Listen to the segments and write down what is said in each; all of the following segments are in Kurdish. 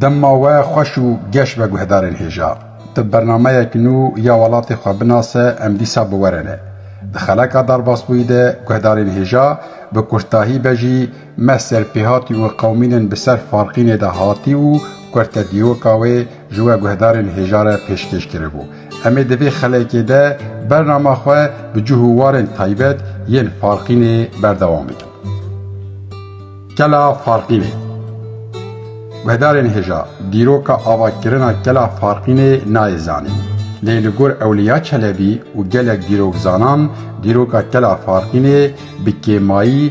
Dema we xweş û geş be guhdarên hêja. Ti bi bernameyek nû ya welatê xwe binase em dîsa bi we re ne. Di xeleka Darbasbûyî de guhdarên hêja bi kurtahî be jî Me ser pêhatî û qewimînên bi ser Farqînê de hatî û kurte dîroka wê ji we guhdarên hêja re pêşkêş kiribû. Em ê di vê xelekê de bernama xwe bi cih û warên taybet yên Farqînê berdewam bikin. Kela Farqînê Guhdarên hêja dîroka avakirina Kela Farqînê nayê zanîn. Lê li gor Ewliya Çelebî û gelek dîrokzanan dîroka Kela Farqînê bi kêmayî,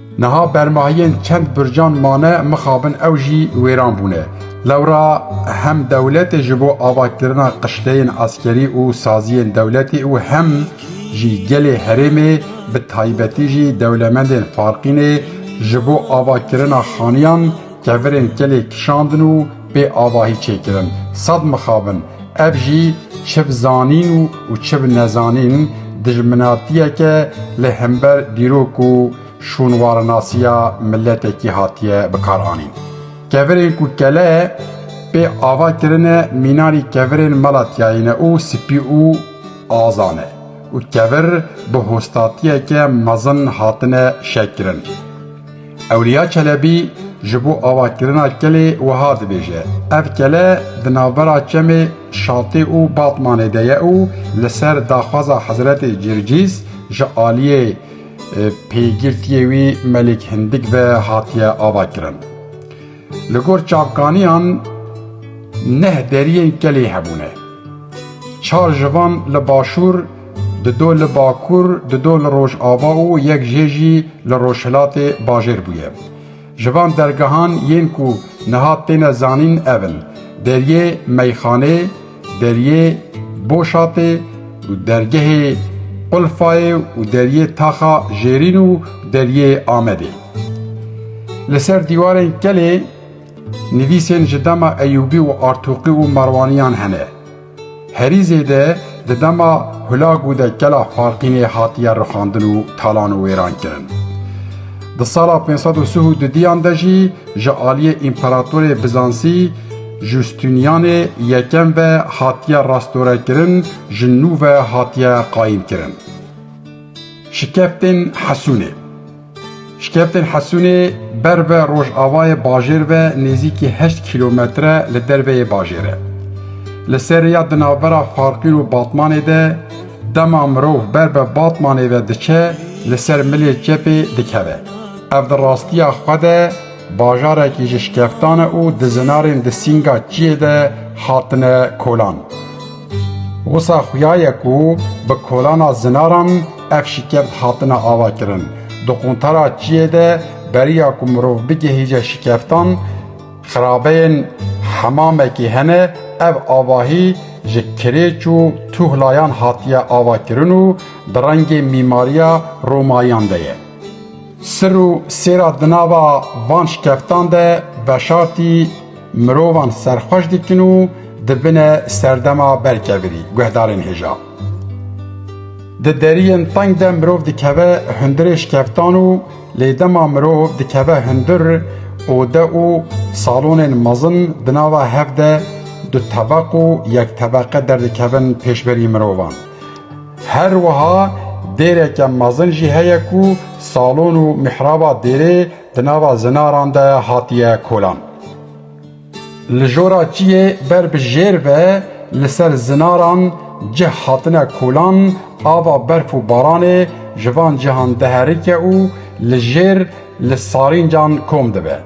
Niha bermahiyên çend burcan mane mixabin ew jî wêran bûne. Lewra hem dewletê ji bo avakirina qişteyên eskerî û saziyên dewletê û hem jî gelê herêmê bi taybetî jî dewlemendên Farqînê ji bo avakirina xaniyan, Kevirên kelê kişandin û pê avahî çêkirin. Sed mixabin. Ev jî çi bi zanîn û çi bi nezanîn dijminatiyeke li hember dîrok û şûnwarinasiya miletekî hatiye bikaranîn. Kevirên ku kele pê ava kirine mînanî kevirên mela tiyayî ne û spî û aza ne û kevir bi hostatiyeke mezin hatine şekirin. Ewliya Çelebî ji bo avakirina kelê wiha dibêje, Ev kele di navbera çemê Şatê û Batmanê de ye û li ser daxwaza Hezretê Circîs ji aliyê pêgirtiyê wî Melik Hindik ve hatiye avakirin. Li gor çavkaniyan neh deriyên kelê hebûne. Çar ji van li başûr, di do li bakur, di do li rojava û yek jê jî li rojhilatê bajêr bûye. Ji van dergehan yên ku niha têne zanîn ev in, Deriyê Meyxanê, Deriyê Boşatê û dergehê Qulfayê û deriyê Taxa Jêrîn û deriyê Amedê. Li ser dîwarên kelê nivîsên ji dema Eyûbî û Artûqî û Merwaniyan hene. Herî zêde di dema Hûlagû de kela Farqînê hatiye rixandin û talan û wêran kirin. Di sala pênc sed û sih û dudiyan de jî ji aliyê Împeratorê Bizansî Justinianê Yekem ve hatiye rastorekirin ji nû ve hatiye qayîmkirin. Şikeftên Hesûnê Şikeftên Hesûnê ber ve rojavayê bajêr ve nêzîkî heşt kîlometre li derve yê bajêr e. Li ser rêya di navbera Farqîn û Batmanê de dema mirov ber bi Batmanê ve diçe li ser milê çepê dikeve. Ev di rastiya xwe de Bajarekî ji şkeftan e û dizinarên di sînga çiyê de hatine kolan. Wisa xuya ye ku bi kolana zinaran ev şikef dihatine avakirin. Di quntara çiyê de beriya ku mirov bigihîje şikeftan, xirabeyên hemamekî hene, ev avahî ji kirêç û tuhlayan hatiye avakirin û di rengê mîmariya Romayiyan de ye. Sir û sêra di nava van şikeftan de veşartî mirovan serxweş dikin û dibine serdema berkevirî, guhdarên hêja. Di deriyên teng de mirov dikeve hundirê şikeftan û lê dema mirov dikeve hundir ode û salonên mezin di nava hev de du tebeq û yek tebeqe derdikevin pêşberî mirovan. Her wiha dêreke mezin jî heye ku salon û mihraba dêrê di nava zinaran de hatiye kolan. Li jora çiyê ber bi jêr ve li ser zinaran cih hatine kolan, ava berf û baranê ji van cihan diherike û li jêr li sarîncan kom dibe.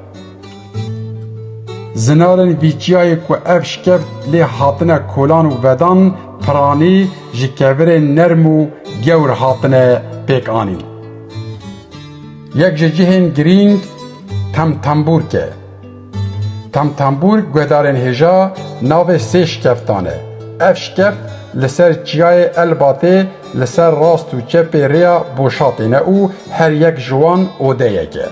Zinarin vî çiyayê ku ev şkev lê hatine kolan û vedan piranî ji kevirên nerm û gewr hatine pêk anîn. Yek ji cihên girîng temtembûrk e. Temtembûrk guhdarên hêja navê sê şkeftan e. Ev şkef li ser çiyayê Elbatê li ser rast û çepê rêya Boşatê ne û her yek ji wan odeyek e.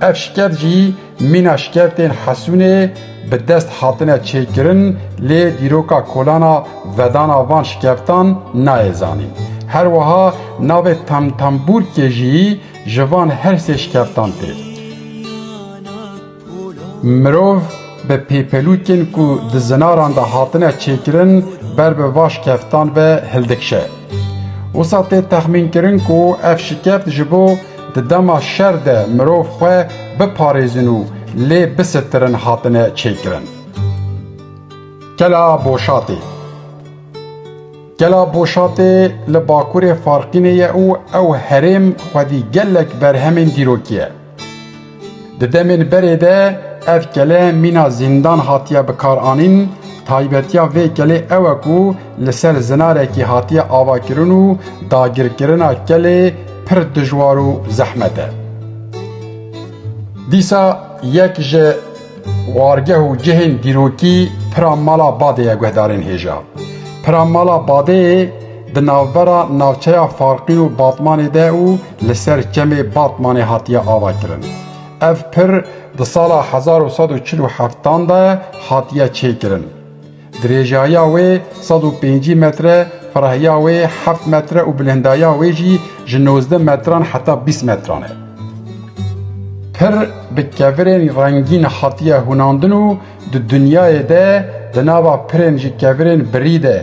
Ev şikeft jî mîna şikeftên Hesûnê bi dest hatine çêkirin lê dîroka kolana vedana van şikeftan nayê zanîn. Her wiha navê Temtembûrkê jî ji van her sê şikeftan tê. Mirov bi pêpelûkên ku di zinaran de hatine çêkirin ber bi va şikeftan ve hildikşe. Wisa tê texmînkirin ku ev şikeft ji bo Di dema şer de mirov xwe biparêzin û lê bisitirin hatine çêkirin. Kela Boşatê Kela Boşatê li bakurê Farqînê ye û ew herêm xwedî gelek berhemên dîrokî ye. Di demên berê de ev kele mîna zîndan hatiye bikaranîn, taybetiya vê kelê ew e ku li ser zinarekî hatiye avakirin û dagirkirina kelê pir dijwar û zehmet e. Dîsa yek ji Wargeh û cihên dîrokî pira mala Badê ye guhdarên hêja. Pira mala Badeyê di navbera navçeya Farqîn û Batmanê de û li ser çemê Batmanê hatiye ava kirin. Ev pir di sala hezar û sed û çil û heftan de hatiye çêkirin. Dirêjaya wê sed û pêncî metre, firahiya wê heft metre û bilindaya wê jî ji nozdeh metran heta bîst metran e. Pir bi kevirên rengîn hatiye hûnandin û di dinyayê de di nava pirên ji kevirên birî de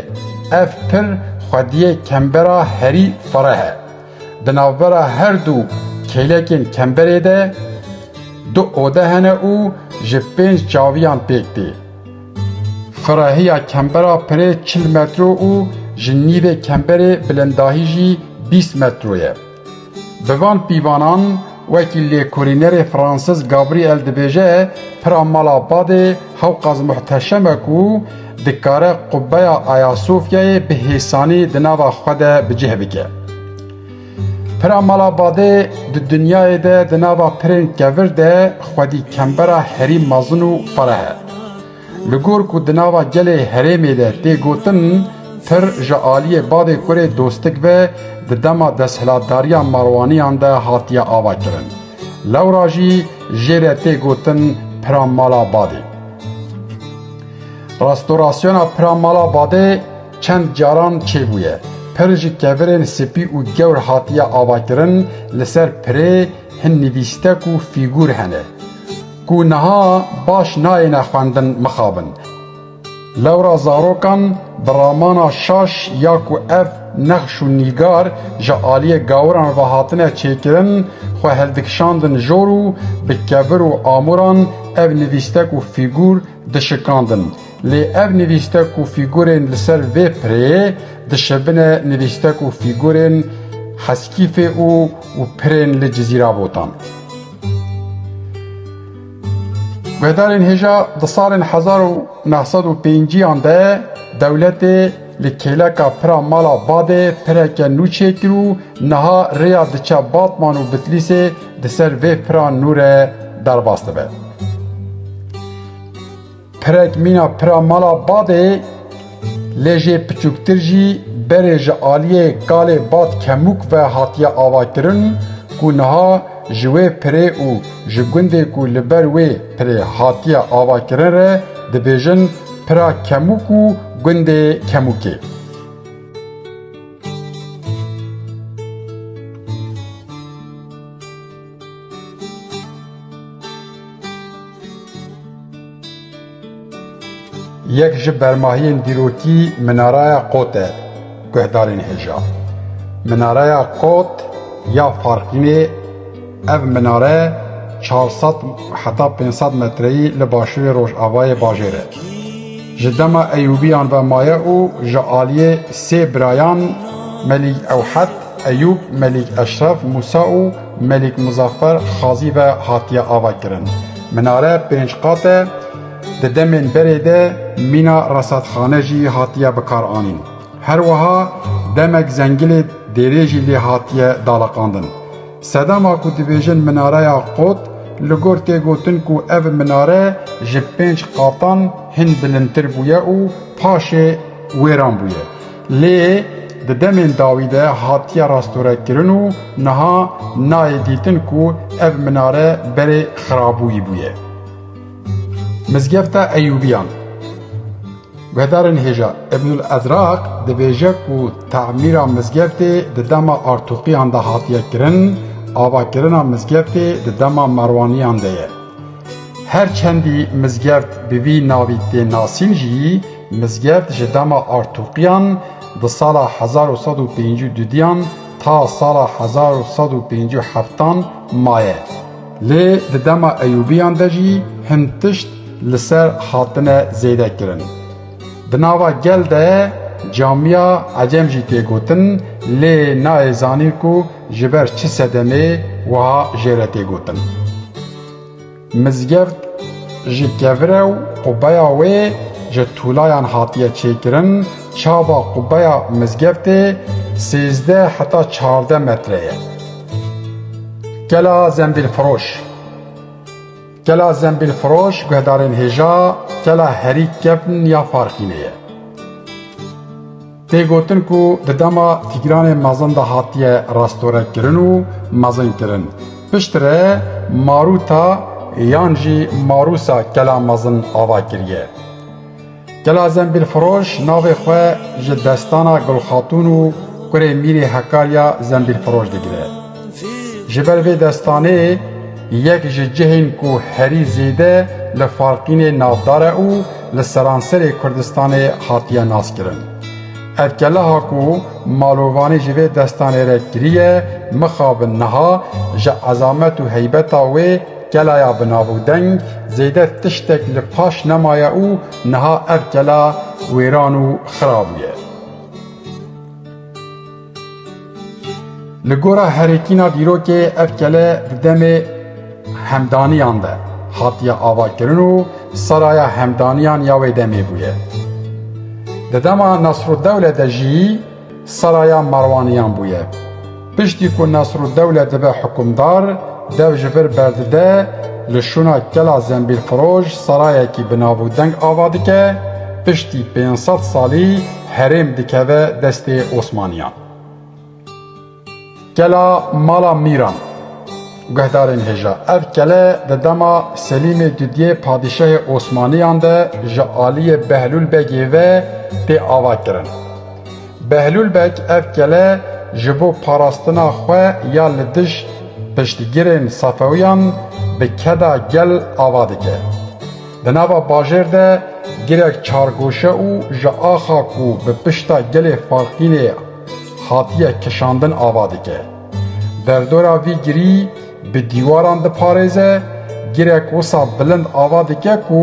ev pir xwediyê kembera herî fereh e. Di navbera her du kêlekên kemberê de du ode hene û ji pênc çaviyan pêk tê. Xurahiya kembera pirê çil metro û ji nîvê kemberê bilindahî jî bîst metro ye. Bi van pîvanan wekî lêkolînerê Fransiz Gabriel dibêje pira mala badê Hewqaz muhteşeme ku dikare qubbeya Ayasofyayê bi hêsanî di nava xwe de bi cih bike. Pira mala badê di dinyayê de di nava pirên kevir de xwedî kembera herî mezin û fereh e. Li gor ku di nava gelê herêmê de tê gotin pir ji aliyê badê kurê dostik ve di dema desthilatdariya Marwaniyan de hatiye avakirin. Lewra jî jê re tê gotin pira mala badê. Restorasyona pira mala badê, Çend caran çêbûye, pir ji kevirên spî û gewr hatiye avakirin, li ser pirê hin nivîstek û fîgûr hene, ku niha baş nayêne xwendin mixabin. Lewra zarokan bi ramana şaş ya ku ev nexş û nîgar ji aliyê gawiran ve hatine çêkirin, xwe hildikişandin jor û bi kevir û amûran ev nivîstek û fîgûr dişikandin. Lê ev nivîstek û fîgurên li ser vê pirê dişibine nivîstek û fîgurên Heskîfê û û pirên li Cizîra Botan. Guhdarên hêja di salên hezar û neh sed û pêncîyan de dewletê li kêleka pira mala Badê pireke nû çêkir û niha rêya diçe Batman û Bitlîsê di ser vê pira nû re derbas dibe. Pirek mîna pira mala bavê lê jê piçûktir jî berê ji aliyê kalê Bat Kemûk ve hatiye avakirin ku niha ji wê pirê û ji gundê ku li ber wê pirê hatiye avakirin re dibêjin Pira Kemûk û Gundê Kemûkê. Yek ji bermahiyên dîrokî Minaraya Qot e, guhdarên hêja. Minaraya Qot ya Farqînê Ev minare çar sed heta pênc sed metreyî li başûrê rojavayê bajêr e. Ji dema Eyûbiyan ve maye û ji aliyê sê birayan Melîk Ewhed, Eyûb Melîk Eşref Mûsa û Melîk Muzaffer Xazî ve hatiye avakirin. Minare pênc qat e, di demên berê de mîna resadxane jî hatiye bikaranîn. Her wiha demek zengilê dêrê jî lê hatiye daleqandin. Sedema ku dibêjin minareya qot, li gor tê gotin ku ev minare ji pênc qatan hin bilindtir bûye û paşê wêran bûye. Lê di demên dawî de hatiye rastorekirin û niha nayê dîtin ku ev minare berê xirabûyî bûye. Mizgefta Eyûbiyan Guhdarên hêja Ibnul Ezraq dibêje ku temîra mizgeftê di dema Artûqiyan de hatiye kirin, avakirina mizgeftê di dema Merwaniyan de ye. Her çendî mizgeft bi vî navî tê nasîn jî, mizgeft ji dema Artûqiyan di sala hezar û sed û pêncî û dudiyan ta sala hezar û sed û pêncî û heftan maye. Lê di dema Eyûbiyan de jî hin tişt li ser hatine zêde kirin. Di nava gel de camiya Ecem jî tê gotin lê nayê zanîn ku ji ber çi sedemê wiha jê re tê gotin. Mizgeft ji kevire û qubeya wê ji tûlayan hatiye çêkirin, çava qubeya mizgeftê sêzdeh heta çardeh metre ye. Kela Zembîlfiroş Kela Zembîlfiroş guhdarên hêja Kela Herî Kevn ya Farxînê ye. Tê gotin ku di dema Tîgranê mezin de hatiye rastorekirin û mezinkirin. Piştre Maruta yan jî Marusa kela mezin ava kiriye. Kela Zembîlfiroş navê xwe ji destana Gulxatûn û kurê Mîrê Hekarya Zembîlfiroş digire. Ji ber vê destanê yek ji cihên ku herî zêde li Faltînê navdar e û li seranserê Kurdistanê hatiye naskirin. Ev keleha ku malovanî ji vê destanê re kiriye mixabin niha ji ezamet û heybeta wê kelaya bi nav û deng zêde tiştek li paş nemaye û niha ev kela wêran û xira bûye. Li gora herikîna dîrokê ev kele di demê hemdaniyan de hatiye avakirin û seraya hemdaniyan ya wê demê bûye. Di dema Nesrûddewle de jî seraya merwaniyan bûye. Piştî ku Nesrûddewle dibe hikumdar dev ji vir berdide li şûna kela Zembîlfiroj serayekî bi navûdeng ava dike, piştî pênc sed salî Herêm dikeve destê Osmaniyan. Kela Mala Mîran Guhdarên hêja Ev kele di dema Selîmê Dudiyê padîşahê Osmaniyan de ji aliyê Behlûl Begê ve tê ava kirin. Behlûl Beg ev kele ji bo parastina xwe ya li dij piştgirên Safewiyan bi keda gel ava dike. Di nava bajêr de girek çargoşe û ji axa ku bi pişta gelê Falqînê hatiye kişandin ava dike. Derdora vî girî bi dîwaran diparêze, girek wisa bilind ava dike ku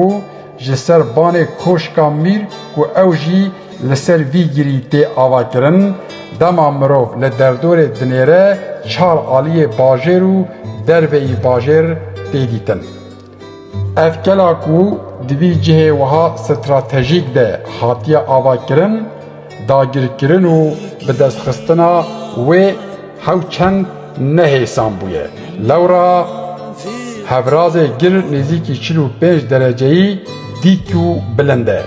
ji ser banê Koşka Mîr ku ew jî li ser vî girî tê avakirin, dema mirov li derdorê dinêre çar aliyê bajêr û derveyî bajêr tê dîtin. Ev kela ku di vî cihê wiha stratejîk de hatiye avakirin, dagirkirin û bidestxistina wê hewçend nehêsan bûye. Lewra hevrazê gir nêzîkî çil û pênc dereceyî dît û bilind e.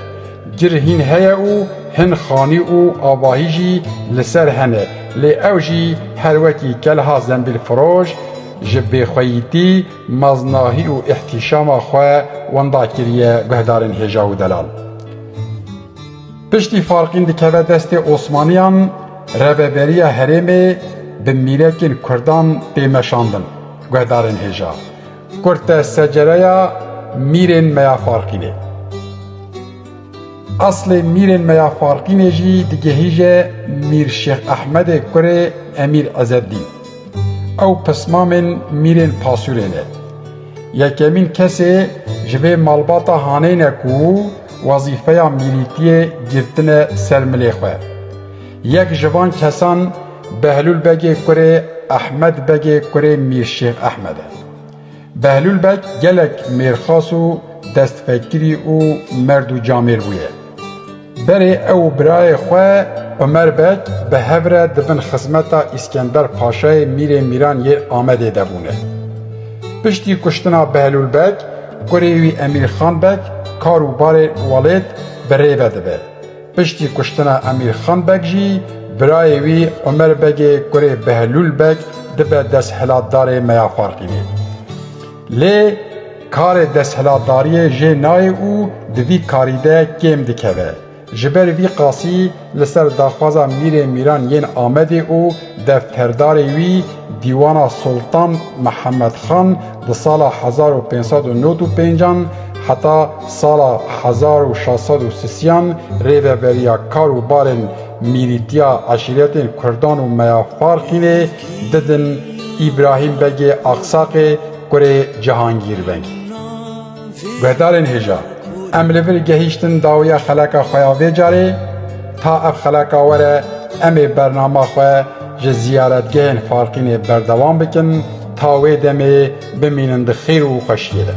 Gir hîn heye û hin xanî û avahî jî li ser hene lê ew jî her wekî kelha zembîlfiroj ji bêxweyîtî, Maznahî û îhtîşama xwe wenda kiriye guhdarên hêja û delal. Piştî Farqîn dikeve destê Osmaniyan, reveberiya herêmê bi mîrekên kurdan tê meşandin, guhdarên hêja kurd te secereya mîrên me ya Farqînê. Eslê mîrên me ya Farqînê jî digihîje Mîr Şêx Ehmedê kurê Emîr Ezeddîn. Ew pismamên mîrên pasûrê ne. Yekemîn kesê ji vê malbata haneyî ne ku wezîfeya mîrîtiyê girtine ser milê xwe. Yek ji van kesan Behlûl Begê kurê Ehmed Begê kurê Mîr Şêx Ehmed e. Behlûl Beg gelek mêrxas û destpêkirî û merd û camêr bûye. Berê ew û birayê xwe Umer Beg bi hev re di bin xizmeta Îskender Paşayê Mîrê Mîran yê Amedê de bûne. Piştî kuştina Behlûl Beg, kurê wî Emîrxan Beg kar û barê welêt bi rê ve dibe. Piştî kuştina Emîr Xan Beg jî birayê wî Omer Begê kurê Behlûl Beg dibe desthilatdarê Meyafarxînê. Lê karê desthilatdariyê jê nayê û di vî karî de kêm dikeve. Ji ber vî qasî li ser daxwaza Mîrê Mîran yên Amedê û Defterdarê wî Dîwana Sultan Mihemed Xan di sala hezar û pênc sed û nod û pêncan heta sala hezar û şeş sed û sisiyan rêveberiya kar û barên mîrîtiya eşîretên Kurdan û Meya Farxînê didin Îbrahîm Begê Axsaqê kurê Cihangîr Vengî. Guhdarên hêja, em li vir gehîştin dawiya xeleka xwe ya vê carê, ta ev xeleka were em ê bernama xwe ji ziyaretgehên Farqînê berdewam bikin ta wê demê bimînin di xêr û xweşiyê de.